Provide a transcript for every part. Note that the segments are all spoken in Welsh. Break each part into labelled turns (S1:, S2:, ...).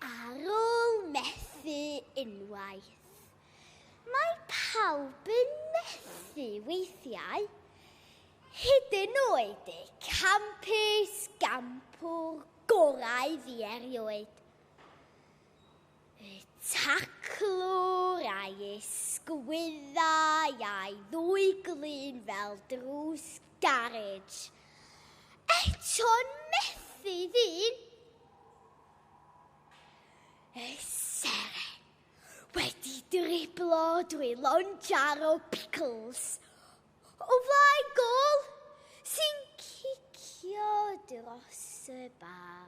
S1: Ar ôl methu unwaith, mae pawb yn methu weithiau, hyd yn oed y campus gampwr gorau fi erioed. Y taclwr a'i ysgwyddau a'i ddwy glun fel drws garej. Eto'n methu ddyn! Y seren wedi driblo drwy lonjar o Pickles o flaen gol sy'n cicio dros y bar.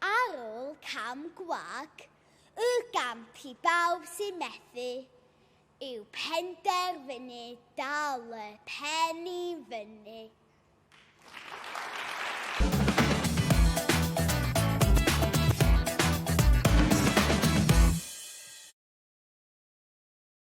S1: Ar ôl cam gwag y gamp i bawb sy'n methu, yw penderfynu dal y pen i fyny.